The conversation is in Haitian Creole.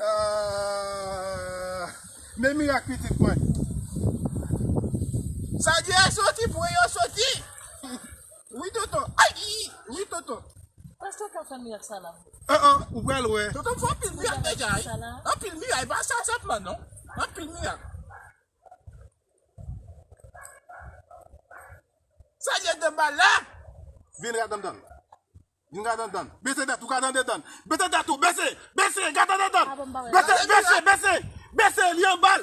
Aah men mirak pitit mwen. Sa di a soti vwe yo soti wi tonton ayy wi tonton. Pastè ka fè mirak sa la. An an ou pral wè. Tonton fè anpil mirak deja wi. Anpil mirak epa sa senp lan non. Anpil mirak. Sa di a 2 bal la. Vin radanmdan. Vin gade anndan. Bese tèt ou gade anndan dan. Bese tèt ou bese. Bese gade anndan dan. Bese bese bese. Bese li anbal.